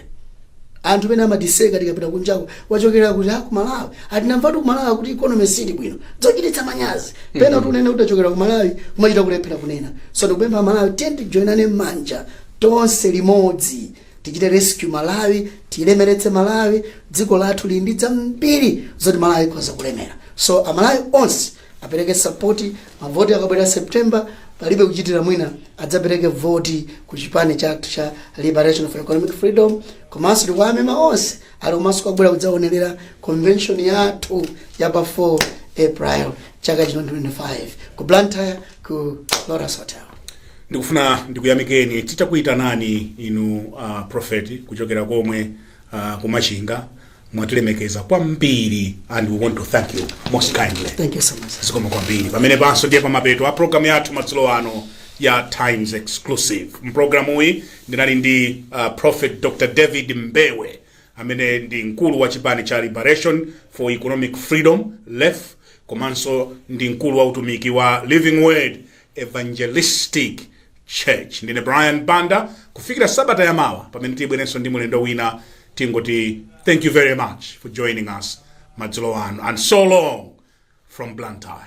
anthu pena amatiseka tikapita kunjako wachokera kuti ku malawi ah tinamvatu ku malawi kuti ikonomi siili bwino zochititsa manyazi pena kuti unene kuti wachokera ku malawi kumachita kulephera kunena so ndikupempha amalawi tiyeni tijoinane m'manja tonse limodzi tichite rescue malawi tilemeretse malawi dziko lathu lili ndi zambiri zoti malawi ikhoza kulemera so amalawi onse apereke support mavoti akabwera september palibe kuchitira mwina adzapereke voti ku chipani chathu cha liberation for economic freedom komanso tikuwamema onse aliko komanso kubwera kudzaonerera convention yathu ya pa 4 april chaka chino 2025 ku blantyre ku lotus hotel ndikufuna ndikuyamikeni titakuyitanani inu uh, prophet kuchokera komwe uh, kumachinga mwatilemekeza kwambiri and we want to thank you most kindly Thank you so much. zikomo kwambiri pamenepanso ndiye pamapeto a programu yathu madzulo ano ya times exclusive mpulogalamu iyi ndinali ndi uh, prophet dr david mbewe amene ndi mkulu wa chipani cha liberation for economic freedom lef komanso ndi mkulu wa utumiki wa living word Evangelistic Church. Ndine Brian Banda. Kufikira sabata ya mawa pamene tibwerenso ndi mlendo wina, tingoti thank you very much for joining us madzulo ano and so long from Blantyre.